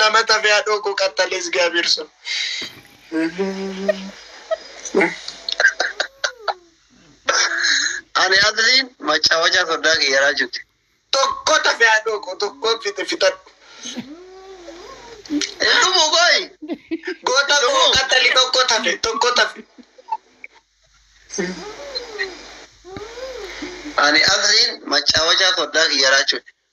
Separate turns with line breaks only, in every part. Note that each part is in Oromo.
Lama
tafee haadhoo koo qaxxalee Isgaabiir sun.
Ani Abdiin machaawachaa sodaa kee yaraa jirti. Tokko tafee
haadhoo koo tokko fixe fixadhu.
Dhumuu kooyi. Goota
koo qaxxali tokko tafe tokko tafe.
Ani Abdiin machaawachaa sodaa kee yaraa jirti.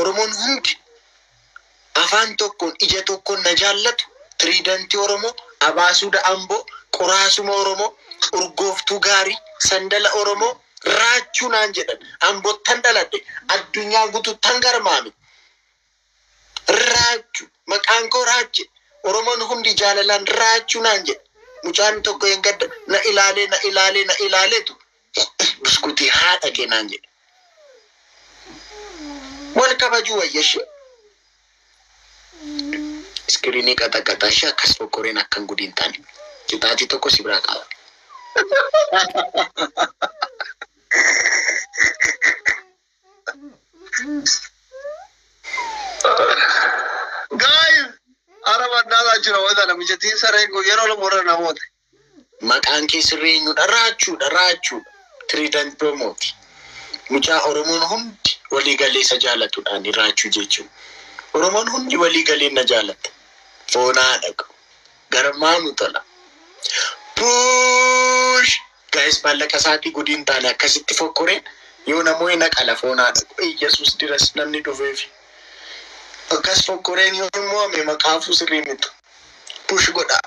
Oromoon hundi afaan tokkoon ija tokkoon na jaallatu Tiriidantii Oromoo, Abaasuuda Amboo, Qoraasuma Oromoo, Urgooftuu Gaarii, Sandala Oromoo, Raachuu naan jedhan. Ambottan dhaladhe. Addunyaa gutuuttan garmaame. Raachu. Maqaan koo Raache. Oromoon hundi jaalalaan Raachuu naan jedhe. Mucaan tokko eengadda na ilaalee na ilaalee na ilaaleetu Itti buskutii haadha kee naan jedhe. Wal kabajuu wayya ishee. Iskiriinii qaxaqaxaa ishee akkas fokkoreen akkan gudii hin taane. Qixaaxii tokko si biraa qaba.
Guys, ara mannaa isaa jira wanta namichatiin sareen kun yeroo lama warra namoota. Maqaan
kee sirrii eenyudha? Raachuudha, Raachuudha. Trident Promote. Mucaa Oromoon hundi walii galee isa jaalatudha ani Raachuu jechuun. Oromoon hundi walii galee na jaalata. Foonaa dhaqu. Garmaa nu tola. Puush! Gaa'is maallaqa isaatii gudii hin taane akkasitti fokkoreen yoo na moo'e na qala foonaa dhaqu. Iyyasuus diras namni dhufeefi. Akkas fokkoreen yoo hin moo'ame maqaafuu sirrii mitu. Push godhaa.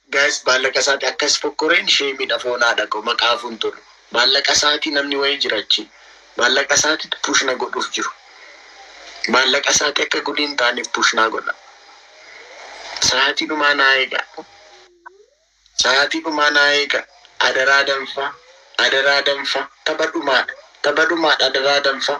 Guys baallaqa
isaati akkas fokkoreen sheemidha foon haadhako maqaafu hin tolu baallaqa isaati namni wayii jira achi baallaqa isaatitu push na godhuuf jiru baallaqa isaati akka gudii hin taaneef push naa godha sa'aatii dhumaa naa eega sa'aatii dhumaa naa eega adaraa danfaa adaraa danfaa tapha dhumaadha tapha dhumaadha adaraa danfaa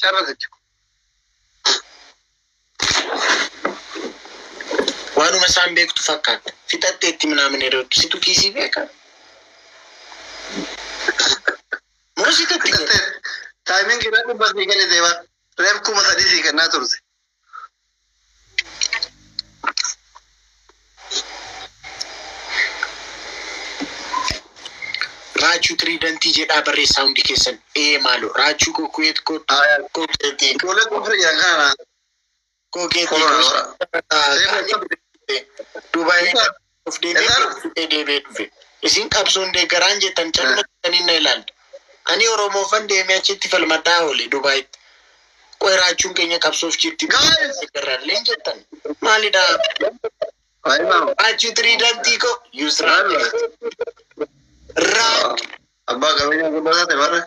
Carra jechu.
Waanuma isaan beektu fakkaata. Fixattee itti minaaminee dooddu. Situ kiisii beeka. Moo situ itti gala?
Taayimiin kiraa dhibba sii kennite bar. Reef kuma sadii sii kennaa turte.
Raachuu tiriidantii jedhaa barreessaa hundi keessan. Ee maaloo raachuu koo kuweet koo koo keetii Ijoollee kufri
yakana. koo keetii Korora. koo Seefa.
Dubaayii. Of deebi'ee deebi'ee dhufe. Isin qabsoon deeggaraan jettan caluma jettanii na ilaaltu. Ani Oromoofan deemee achitti falmadhaa oole Dubaayitti. Qoy raachuun keenya qabsoof jirti Guys! deeggarraalleen jettan. Maalidha? Ayimaam. Raachuu tiriidantii koo Yusraa Raach Abbaa qabeenyaa
guddaa taate barre.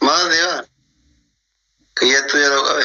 Maal deemaa? Kiyyattuu yeroo qabe.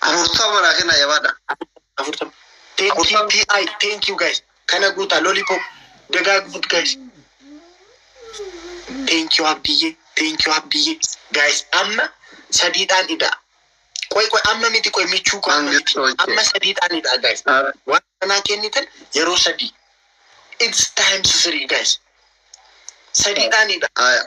Afurtama naa kennaa
jabaadha. Afurtama. Afurtama.
Thank you, TI, thank you guys. Kana guutaa lollipop dagaagfut guys. Thank you Abdiyyee, thank you Abdiyyee. Guys amma sadiidhaan idaa. Qoy qoy amma miti qoy michuu koo amma miti. Mangistoche. Amma sadiidhaan idaa guys. Ar- Waan kanaa kennitan yeroo sadii. It's time sisirii guys. Sadiidhaan idaa. Aya.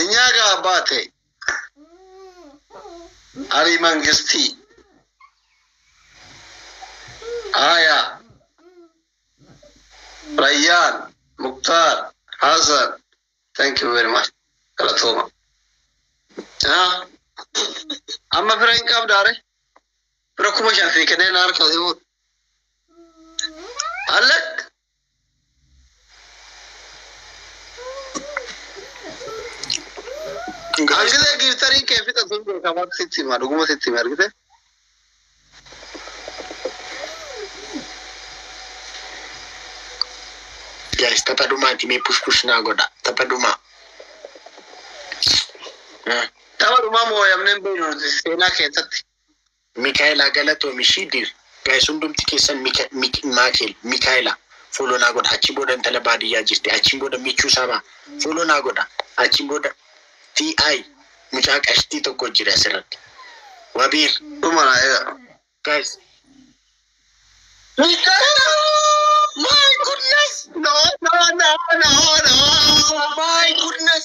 Enyaa gaa baate arii mangistii haya rayyaan muktaar hasan thank you very much galatooma Ah, amma fira hin qabdaare Bira kuma shan fi kennee na harkaa si fuudhe. Allak. Hangilee giiftarii kee fixa sun beekamaa sitti hima dhuguma sitti hima argite.
Guys, tapha dhumaati mee push push naa godha. Tapha dhumaa.
Tapha dhumaa mooyamneen beeknu nuti seenaa keessatti. Mikaela
galatomi ishii dir. Guys hundumti keessan mika mik makel mikaela follow naa godha achiin booda intala baadiyyaa jirti achiin booda michuu sabaa follow naa godha achiin booda ti mucaa qashtii tokko jira asirratti wabiir dhuma guys Mikaela my goodness
no no no no no
my goodness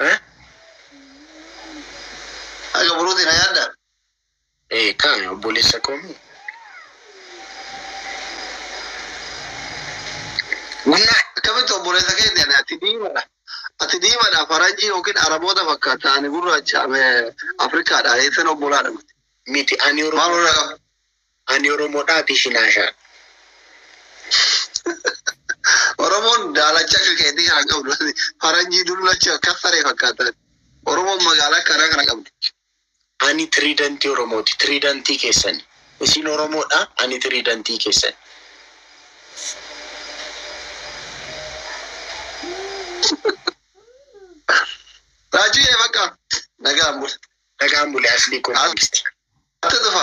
Eh? Haga buruuti na yaadda? Ee
kaani obboleessa koo mii.
Guyyaa akkamitti obboleessa keeti ani ati diimadha. Ati diimadha faranjii yookiin araboota fakkaata ani gurraacha Afrikaadha eessan obbolaadha miti. Miti ani
Oromoo. Maal warra qaba?
Ani
Oromodha ati shinaashaadha.
Oromoon daalacha akka keetii kana qabdu faranjii dullacha akka saree fakkaatan. Oromoon magaalaa akka kanaa kana qabdi. Ani
tiriidantii Oromooti. Tiriidantii keessani. Isin Oromoodha ani tiriidantii keessani.
Raajii kee bakka nagaan bula. Nagaan buli aslii koo
mangisti.
Atti tufa.